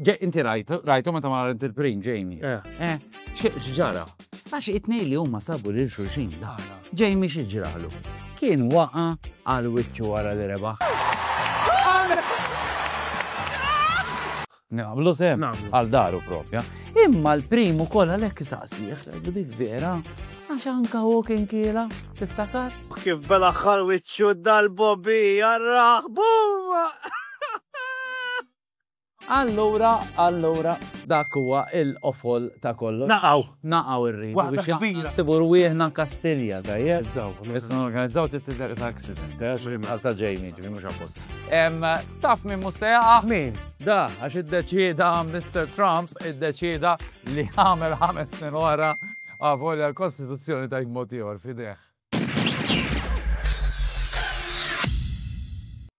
Ġej, inti rajt, rajtu meta ma rajt il-prim, Jamie? Eh. Eh, x'ġara? Għax it-tnejn li huma sabu lil xulxin la. Jamie xi ġralu? Kien waqa' għal wiċċu wara li rebaħ. Nagħmlu sem għal daru propja. Imma l-primu kollha lek saqsieħ, dik vera, għax anka u kien kiela, tiftakar? Kif bela xal wiċċu dal-bobi jarraħ, bumma! Allura, allura, dak huwa il-qofol ta' kollox. Naqgħu. Naqgħu irridu. Waħda kbira. Nsibu rwieħna Kastilja, tajjeb? Organizzaw. Issa norganizzaw trid tidher ta' accident, eh? Xi mħal ta' Jamie, ġifieri mhux apposta. Em, Taf min mhux se jaqa'? Min? Da, għax iddeċieda Mr. Trump iddeċieda li jagħmel ħames snin oħra avolja l-Kostituzzjoni tgħid mod ieħor f'idejh.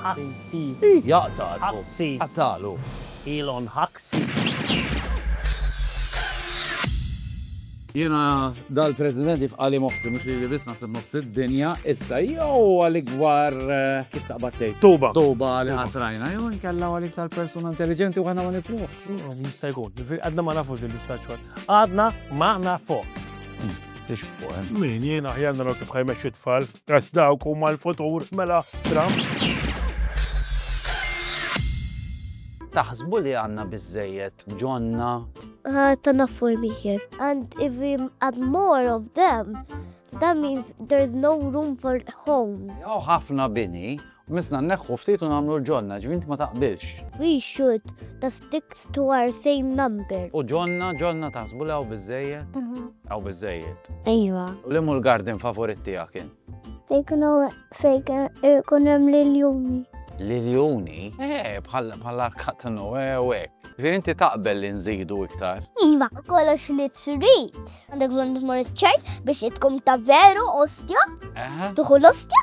Ħaxi. Jaqtgħalu. Ħaxi. Qatgħalu. Ilhom ħaxi. Jiena dal-President jifqali moħħi mhux li biss naħseb nofs id-dinja, issa jew għalik gwar eh, kif taqbad tgħid. Tuba. Tuba li ħatrajna, jew inkella għalik tal-persuna intelligenti u għana ma nifluħ. Jista' jkun, għadna ma nafux li l-istaċċwar. Għadna ma nafux. Tixbu, eh? Min jiena ħjanna kif ħajmex it-tfal. Għax dawk huma l-futur, mela Trump. Taħsbu li għanna bizzejiet ġonna? Ta' naffu miħir. And if we add more of them, that means there's no room for homes. Ħafna bini Qmisna nneħħu ftit u nagħmlu l-ġonna, ġifieri inti ma taqbilx. We should, that sticks to our same number. U ġonna, ġonna taħsbu li hawn biżżejjed? Hawn biżżejjed. Ejwa. U liemu l-garden favorit tiegħek int? Fejn ikun hemm l-iljuni. L-iljuni? Eh, bħall-arkat ta' Noe u hekk. Ġifieri inti taqbel li nżidu iktar? Iva, kollox li trid. Għandek bżonn tmur iċ-ċert biex tkun ta' veru ostja? Eħe. Tuħu l-ostja?